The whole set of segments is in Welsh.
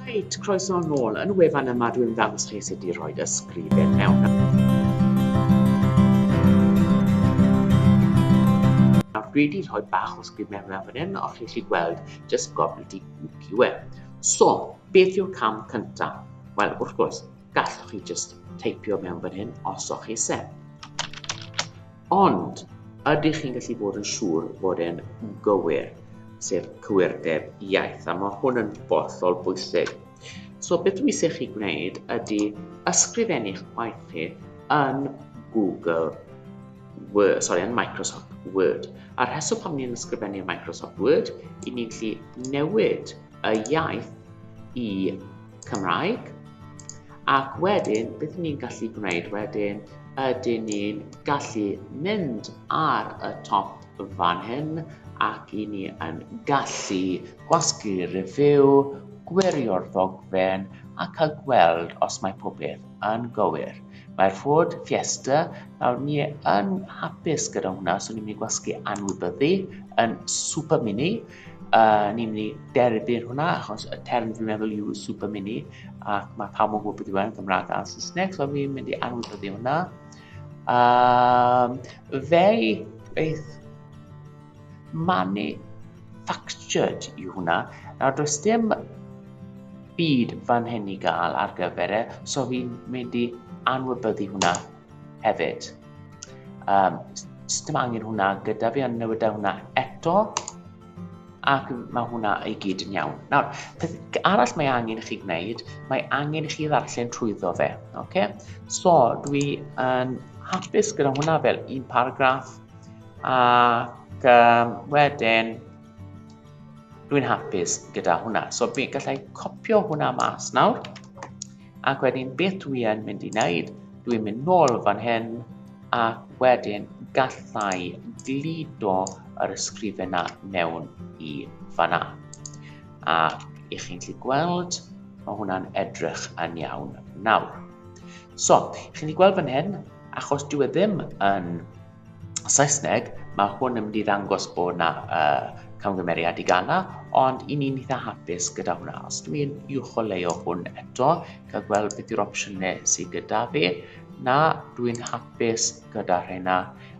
Reit, croeso yn ôl. Yn y wefan yma dwi'n ddangos chi sut i roed ysgrifen mewn. Nawr dwi wedi rhoi bach o sgrif mewn mewn fan hyn, o'ch chi chi gweld, just gofnod i gwcio e. So, beth yw'r cam cyntaf? Wel, wrth gwrs, gallwch chi just teipio mewn fan hyn os o'ch chi se. Ond, ydych chi'n gallu bod yn siŵr bod e'n gywir, sef cywirdeb iaith, a mae hwn yn bollol bwysig. So, beth dwi eisiau chi gwneud ydy ysgrifennu'ch gwaith chi yn Google Word, sorry, yn Microsoft Word. A'r rheswm pam ni'n ysgrifennu yn Microsoft Word, i ni'n gallu newid y iaith i Cymraeg. Ac wedyn, beth ni'n gallu gwneud wedyn, ydyn ni'n gallu mynd ar y top fan hyn ac i ni yn gallu gwasgu review, gwirio'r ddogfen a cael gweld os mae pob peth yn gywir. Mae'r Ford Fiesta, nawr ni yn hapus gyda hwnna, so ni'n mynd i gwasgu anwybyddu yn super mini, A ni'n mynd i derbyn hwnna, achos y term dwi'n meddwl yw super mini, ac mae pawb yn gwybod beth yw e'n Gymraeg a Saesneg, so fi'n mynd i anwybyddu hwnna. Um, fe beth manufactured yw hwnna. Nawr, does dim byd fan hyn i gael ar gyfer e, so fi'n mynd i anwybyddu hwnna. hefyd. Um, dim angen hwnna gyda fi, ond newid hwnna eto. Ac mae hwnna i gyd yn iawn. Nawr, peth arall mae angen i chi gwneud, mae angen i chi ddarllen trwyddo fe. Okay? So, dwi yn hapus gyda hwnna fel un paragraff. Ac um, wedyn, dwi'n hapus gyda hwnna. So, fi gallai copio hwnna mas nawr. Ac wedyn beth dwi yn mynd i wneud? Dwi'n mynd nôl fan hyn ac wedyn gallai gludo yr ysgrifenau mewn i fanna. A i chi'n gallu gweld, mae hwnna'n edrych yn iawn nawr. So, chi'n gallu gweld fan hyn, achos dwi e ddim yn Saesneg, mae hwn yn mynd i ddangos bod yna uh, camgymeriad i gana, ond i ni'n eitha hapus gyda hwnna. Os dwi yn uwcholeuo hwn eto, cael gweld beth yw'r opsiynau sydd gyda fi, na, dwi'n hapus gyda rhena.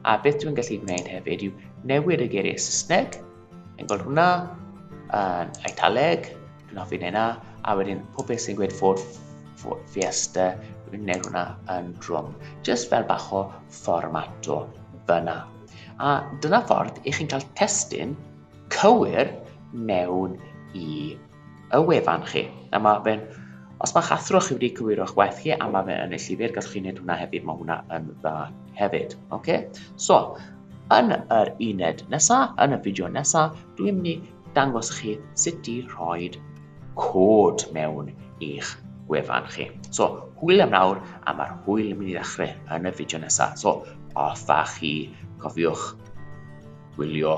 A beth dwi'n gallu gwneud hefyd yw newid y geiriau Saesneg, Yn gweld hwnna, yn Eidaleg, dwi'n hoffi neud hwnna, a wedyn pob beth sy'n gweud Ford Fiesta, dwi'n neud hwnna yn drwm, just fel bach o fformato fyna. A dyna ffordd i chi'n cael testyn cywir mewn i y wefan chi, a ma' fe'n... Os mae'ch athro chi wedi cywiro'ch waith chi a ma' fe yn y llyfr, gallwch chi wneud hwnna hefyd, mae hwnna yn dda hefyd. Okay? So, yn yr uned nesa, yn y fideo nesa, dwi'n mynd i dangos i chi sut i rhoi cod mewn i'ch gwefan chi. So, hwyl am nawr, a mae'r hwyl yn mynd i ddechrau yn y fideo nesa. So, os da chi, cofiwch gwylio